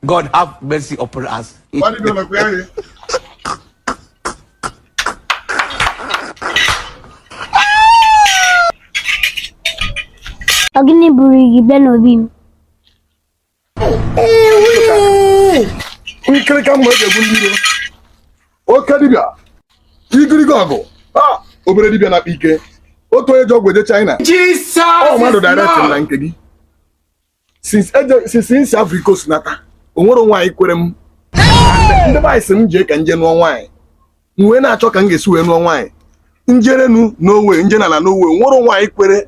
God have mercy upon us. Why did you look where you? Ọ gịnị buru gị bịa n'obi m. Nkirika mma e ji egbu ndị iro. Oke dibịa, igirigi ọgụ, ah, obere dibịa na-akpa ike. Otu onye ji ọgwụ eje China. Jesus Ọ mmadụ direct na nke gị. since m si Ivory Coast nata o nwerọ nwaanyị kwere m ndị be anyị sị m jee ka m je nụọ nwaanyị m wee na-achọ ka m ga-esi wee nụọ nwaanyị m jere enu no way m je n'ala no way o nwerọ nwaanyị kwere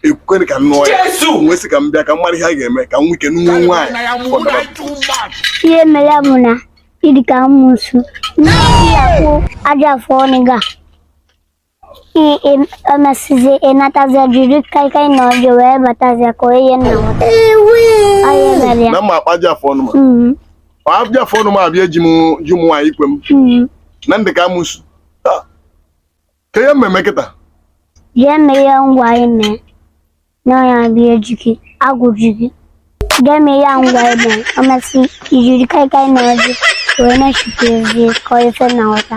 ekwe ka m nụọ ya m wee sị ka m bịa ka m mara ihe a ga-eme ka m nwee ike nụọ nwaanyị. ihe mere bụ na ị dị ka amosu na ị ya-akpụ ajị afọ ọnụ gị a E mesịzịa ị natazịa jiri kaikai na ọjị wee batazịa ka onye nna nwata. Onye mere ya. na m ma akpụ ajị afọ ọnụ m a Mm, ajị afọ ọnụ m a bụ ya ji m nwaanyị ikwe m mm. na m dị ka amosu Ah, kee ihe m ma-eme kịta Jee mee ihe m gwara gị mee. na ọ ya bụ ihe ji gị agwụ ji gị jee mee ihe m gwara gị e mesịa i jiri kaikai na ọjị wee na-echukwu ezie ka ọ ife nna nwata